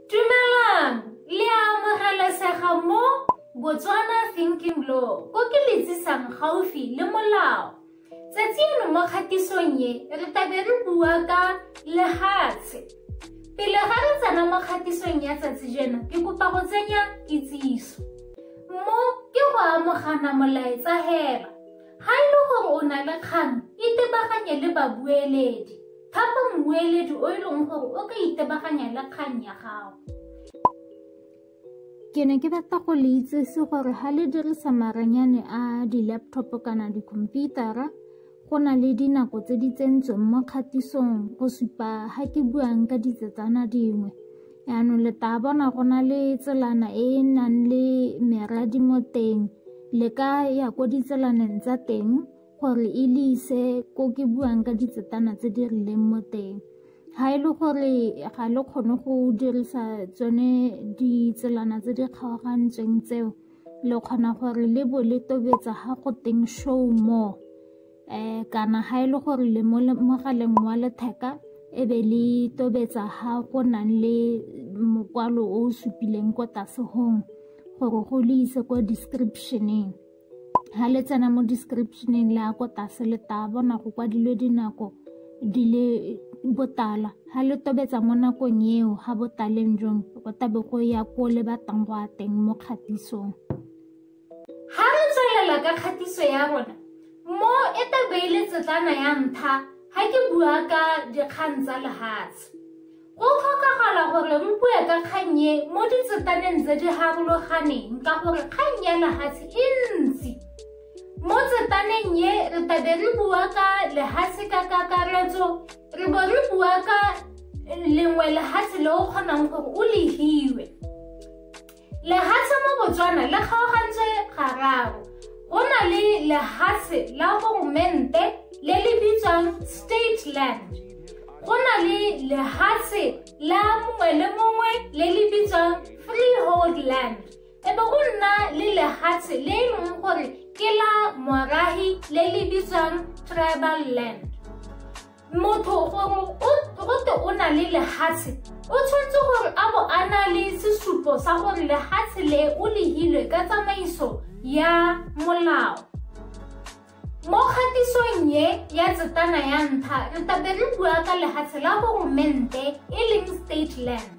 Dumelang, le a amogelesega mo Botswana Thinking Law, ko ke le tsisang gaufi le molao. Tsatsi eno mo kgatisong ye, re tabe re bua ka lehatshe. Pele ga re tsena mo kgatisong ya tsatsi jeno, ke kopa go tsenya kitsiso. Mo ke go amogana molaetsa hela. Ga e le gore o na le kgang, itebaganye le babueledi. Thapa mmueledi o e leng gore o ka itebaganya le kgang ya gago. Ke ne ke batla go le itsese gore ga le dirisa maranyane a di-laptop kana dikhomputara go na le dinako tse di tsentsweng mo kgatisong go supa ga ke buang ka ditsetsana dingwe yaanong le taa bona go na le tselana e e nang le meradi mo teng le ka ya ko ditselaneng tsa teng gore e le ise ko ke buang ka ditsetana tse di rileng mo teng ga e le gore ga le kgone go dirisa tsone ditselana tse di kgaogantsweng tseo le kgona gore le bo le tobetsa ga go teng show more um kana ga e le gore le mo mogaleng wa letheka e be le tobetsa ga go nang le mokwalo o o supileng ko tlase gong gore go le ise ko descriptioneng ha le tsena mo descriptioneng le ya ko tlase le taya bona go kwadilwe dinako di le botala ha le tobetsa mo nakong eo ga botaleng jong go tabe go ya ko le batlang go a teng mo kgatisong ga re tswelela ka kgatiso ya rona mo e tabeile tsetlana ya ntlha ga ke bua ka dikgang tsa lehatshe Go tlhokagala gore re bue ka kgang e mo ditsetaneng tse di harologaneng ka gore kgang ya lehatshe e ntsi. Mo tsetaneng e re tabe re bua ka lehatshe ka kakaretso, re bo re bua ka lengwe lehatshe le o kgonang gore o le hiwe. Lehatshe mo Botswana le kgaogantswe gararo. Go na le lehatshe la goromente le le bitswang state land. Go na le lehatshe la mongwe le mongwe le le bitswang freehold land. E be go nna le lehatshe le e leng gore ke la morahi le le bitswang tribal land. motho gongwe gote o na le lehatshe o tshwanetse gore a bo a na le sesupo sa gore lehatshe le o lehilwe ka tsamaiso ya molao mo kgatisong ye ya tsetana ya ntlha re tabe re bua ka lehatshe la goromente e leng state land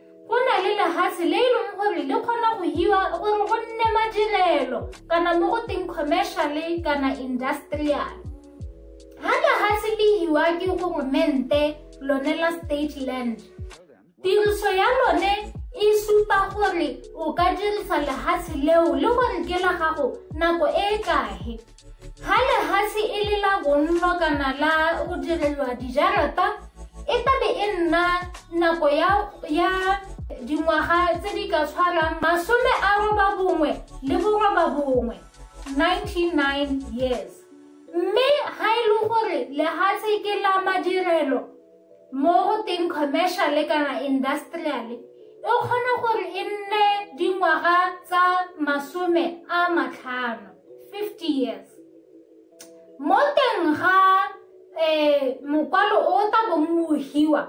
go na le lehatshe le e leng gore le kgona go hiwa gore go nne madirelo kana mo go teng commerciale kana industrial ga lehatshe le hiwa ke goromente lone la state land tiriso ya lone e supa gore o ka dirisa lehatshe leo le gore ke la gago nako e e kae Ga lehatshe e le la bonno kana la go direlwa dijarata e tla be e nna nako ya ya dingwaga tse di ka tshwarang masome a roba bongwe le boroba bongwe 99 years mme ga e le gore lehatshe ke la madirelo mo go teng commercial kana industrial e kgona gore e nne dingwaga tsa masome a matlhano 50 years mo teng ga um mokwalo o o tabong o hiwa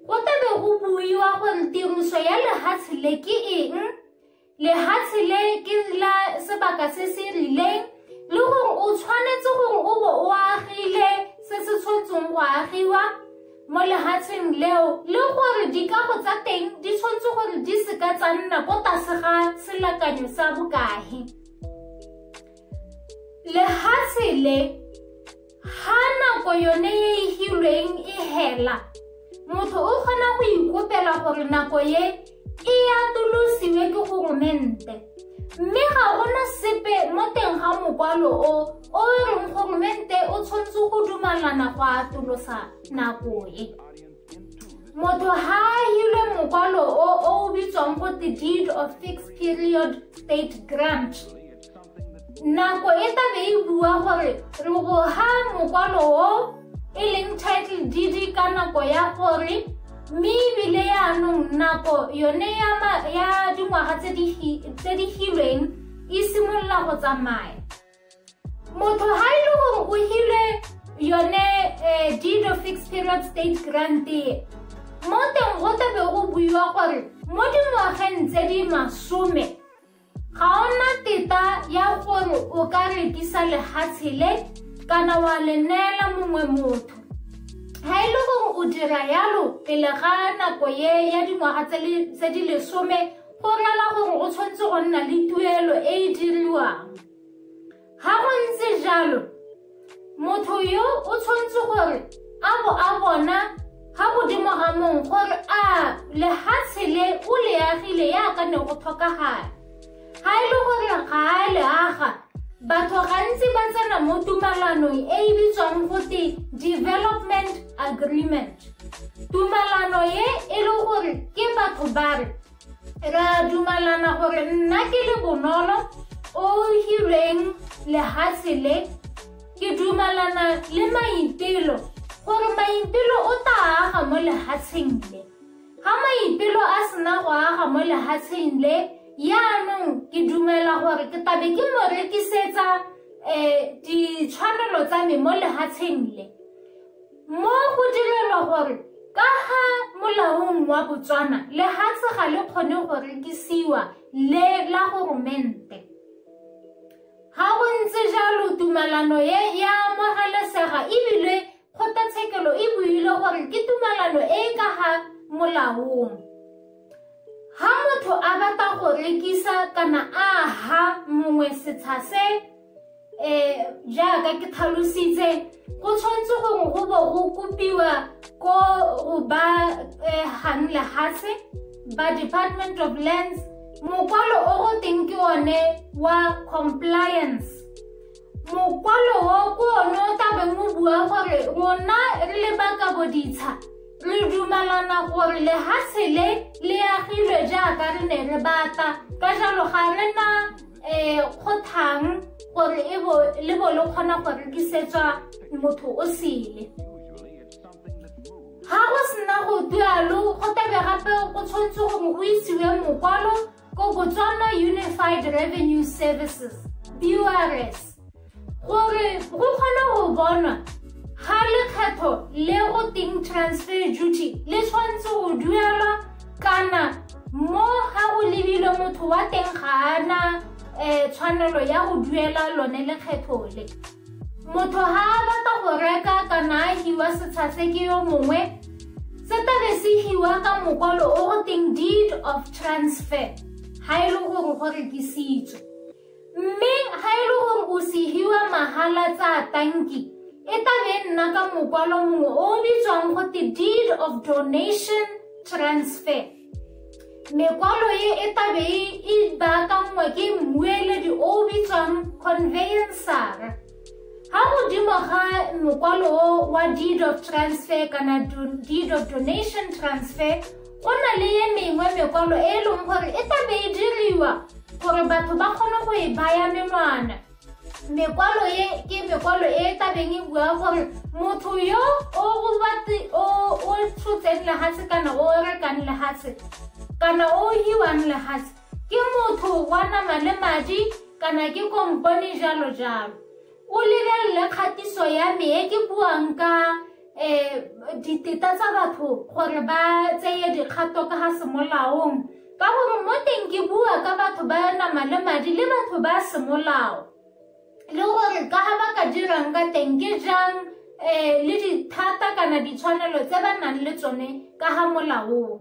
go tabe go buiwa gore tiriso ya lehatshe le ke eng lehatshe le ke la sebaka se se rileng le gore o tshwanetse gore o bo o agile se se tshwanetseng go agiwa mo lehatsheng leo le gore dikago tsa teng di tshwanetse gore di seka tsa nna ko tlase ga selakanyo sa bokae lehatshe le ga nako yone e e hilweng e hela motho o kgona go ikopela gore nako ye e atolosiwe ke goromente mme ga gona sepe mo teng ga mokwalo o o reng goromente o tshwanetse go dumalana go atolosa nako e motho ha a hilwe mokwalo o o bitswang go the deed of fixed period state grant nako e tla be e bua gore re go ha mokwalo o e leng title dd ka nako ya gore mme ebile yaanong nako yone ya dingwaga tse di hilweng e simolola go tsamaya motho ha e le gore o hile yone eh, deed of fixed period state grant e mo teng go tlabe go buiwa gore mo dingwageng tse di masome ga o na teta ya gore o ka rekisa lehatshe le kana wa le neela mongwe motho ga e le gore o dira yalo pele ga nako ye ya dingwaga tse di lesome go rela gore o tshwanetse go nna le tuelo e e diriwang Ga go ntse jalo, motho yo o tshwanetse gore a bo a bona ga godimo ga mong gore a lehatshe le o le agile yaka ne go tlhokagala. Ga e le gore ga a le aga, batho gantsi ba tsena mo tumalanong e e bitswang gote development agreement. Tumalano e e le gore ke batho ba re Re a dumalana gore nna ke le bonolo o hireng lehatshe le ke dumalana le maipelo gore maipelo o tla aga mo lehatsheng le ga maipelo a sena go aga mo lehatsheng le yaanong ke dumela gore ke tabe ke mo rekisetsa um ditshwanelo tsa me mo lehatsheng le Mo go direlwa gore ka ga molaong wa Botswana lehatshe ga le kgone go rekisiwa le la goromente. Ga go ntse jalo tumalano e ya amogelesega ebile kgotlatshekelo e buile gore ke tumalano e e ka ga molaong. Ha motho a batla go rekisa kana a ha mongwe setsha se um jaaka ke tlhalositse go tshwanetse gongwe go bo go kopiwa ko go ba um gang lehatshe ba department of lands mokwalo o go teng ke one wa compliance mokwalo o ko one o tabeng o bua gore rona re le ba ka boditsha re dumalana gore lehatshe le le agilwe jaaka re ne re batla ka jalo ga re na ee go thang gore e bo le bo le kgona go rekisetswa motho o sele ga go sena go dualo go tabe gape go tshwanetse gore go isiwe mokwalo ko botswana unified revenue services burs gore go kgone go bonwa ga lekgetho le go teng transfer duty le tshwanetse go duelwa kana mo ga go lebile motho wa teng ga ana um tshwanelo ya go duela lone lekgetho le motho ga a batla go reka kana a hiwa setsha se ke yo mongwe se tabe se hiwa ka mokwalo o go teng deed of transfer ga e le gore go rekisitswe Mme ga e le gore o segiwa mahala tsa tanki e tabe nna ka mokwalo mongwe o o bitswang go te deed of donation transfer mekwalo e e tabe e baakanngwa ke mmueledi o o bitswang conveyansara Ga modimo ga mokwalo o wa deed of transfer kana deed of donation transfer go na le ye mengwe mekwalo e e leng gore e tla be e diriwa gore batho ba kgone go e baya menwana mekwalo e ke mekwalo e e tabeng e bua gore motho yo o tshotseng lehatshe kana o rekang lehatshe kana o hiwang lehatshe Ke motho wa nama le madi kana ke kompone jalo jalo. O lebelele kgatiso ya me e ke buang ka um diteta tsa batho gore ba tseye dikgato ka ga semolaong ka gore mo teng ke bua ka batho ba nama le madi le batho ba semolao le gore ka ga ba ka dirang ka teng ke jang um le dithata kana ditshwanelo tse ba nang le tsone ka ga molaong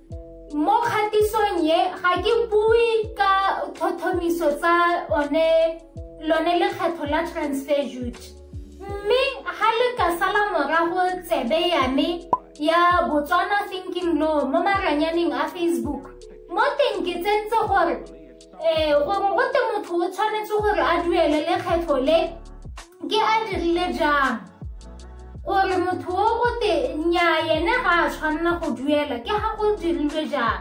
mo kgatisong ye ga ke bue ka tlhotlhomiso tsa one lone lekgetho la transfer duty mme ga le ka sala morago tsebe ya me ya botswana thinking law mo maranyaneng a facebook mo teng ke tsentse gore ee eh, gore gote motho o tshwanetse gore a duele lekgetho le ke a dirile jang gore motho o gote nya ene ga a tshwanela go duela ke ga go dirilwe jang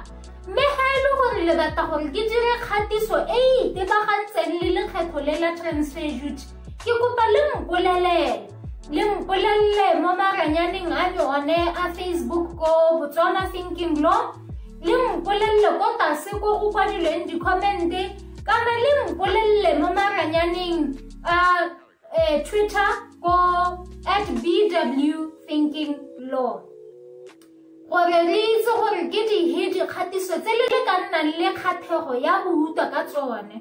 mme ga e le gore le batla gore ke dire kgatiso e e itebagantseng le lekgetho le la transfer duty ke kopa le mpolelele le mpolelele mo maranyaneng a le one a facebook ko botswana thinking lo le mpolelele ko tase ko go kwadilweng di-commente kana le mpolelele mo maranyaneng a eh, twitter ko at bw thinking law gore re itse gore ke dihe dikgatiso tse le le ka nnang le kgathego ya go utlwa ka tsone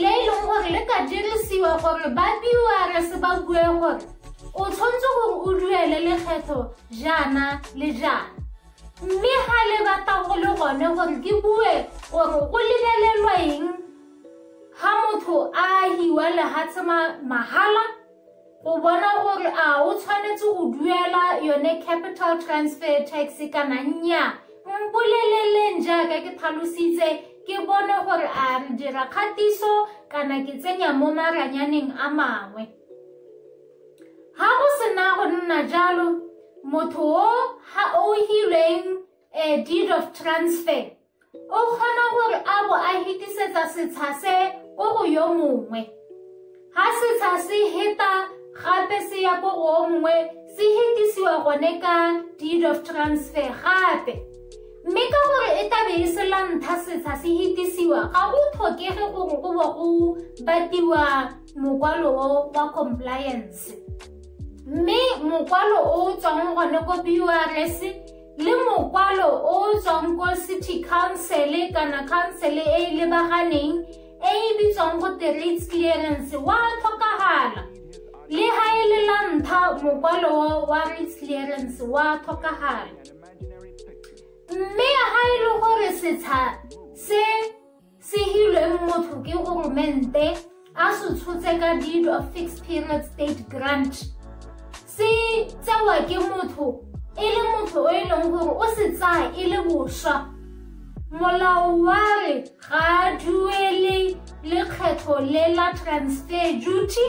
le e leng gore le ka dirisiwa gore ba prs ba bue gore o tshwanetse gore o duele lekgetho jaana le jaana mme ga le batla go le gone gore ke bue gore o lebelelwa eng ga motho a hiwa lehatshe mahala go bona gore a o tshwanetse go duela yone capital transfer tax kana nnya mpoleleleng jaaka ke tlhalositse ke bone gore a re dira kgatiso kana ke tsenya mo maranyaneng a mangwe ga go sena go nna jalo motho o ga o hilweng a eh, deed of transfer O kgona gore a bo a hetisetsa setsha se ko go yo mongwe. Ha setsha se heta gape se ya ko go o mongwe se hetisiwa gone ka deed of transfer gape. Mme ka gore e tlabe e se lantha setsha se hetisiwa ga go tlhokege gore go bo go batiwa mokwalo o wa compliance. Mme mokwalo o tswang gone ko BURS le mokwalo o o tswang ko city council kana council e e lebaganeng e e bitswang go te rates clearance wa tlhokagala le ga e le la ntlha mokwalo wa rates clearance wa tlhokagala mme ga e le gore setsha se Sehilweng motho ke goromente a se tshotse ka deed of fixed period state grant se tsewa ke motho e le motho o e leng gore o se tsaya e le boswa molao wa re ga a duele lekgetho le la transfer duty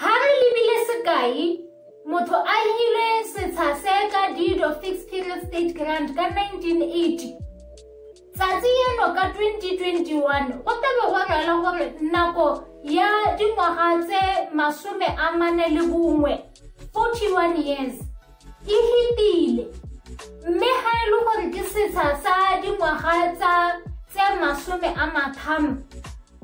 Ha re lebile sekai, motho a hire setsha se ka deed of fixed period state grant ka 1980 tsatsi eno ka 2021 go tlabe go rela gore nako ya dingwaga tse masome a mane le bongwe 41 years e hitile mme ga e le gore ke setsha sa dingwaga tsa tse masome a matlhano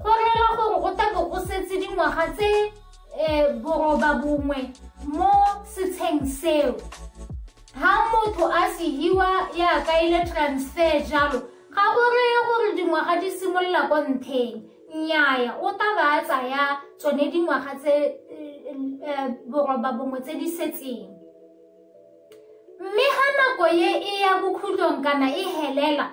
Go rela gore go tla bo go setse dingwaga tse um boroba bongwe mo setsheng seo ha motho a sehiwa ya kaile transfer jalo ga go reye gore dingwaga di simolola ko ntheng nnyaya o ta ba a tsaya tsone dingwaga tse eh, boroba bongwe tse di setseng mme ga nako ye e ya bokhutlong kana e helela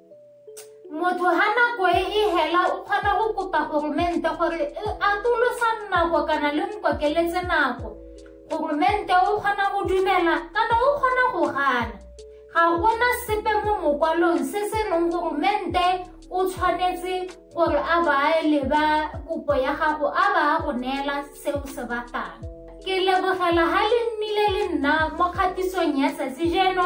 motho ha nako e e hela o kgona go kopa goromente gore e atolosa nako kana le nkokeletse nako goromente o kgona go dumela kana o kgona go gana ga gona sepe mo mokwalong se se reng goromente o tshwanetse gore a ba leba kopo ya gago a ba go neela se o se batlang ke lebogela ga le nnile le nna mo kgatisong ya tsatsi jeno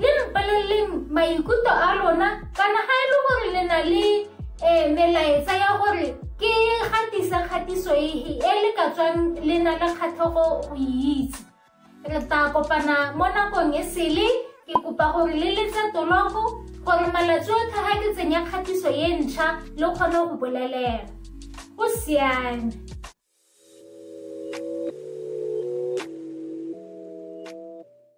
le re paleleleng maikutlo a lona kana ga e le gore le na le um melaetsa ya gore ke gatisa kgatiso e, e le ka tswang le na le kgatlhogo go e itse re tla kopana mo nakong e sele ke kopa gore le letse tologo gore malatsi otlhe ga ke tsenya kgatiso e ntšha le kgone go bolelela go siame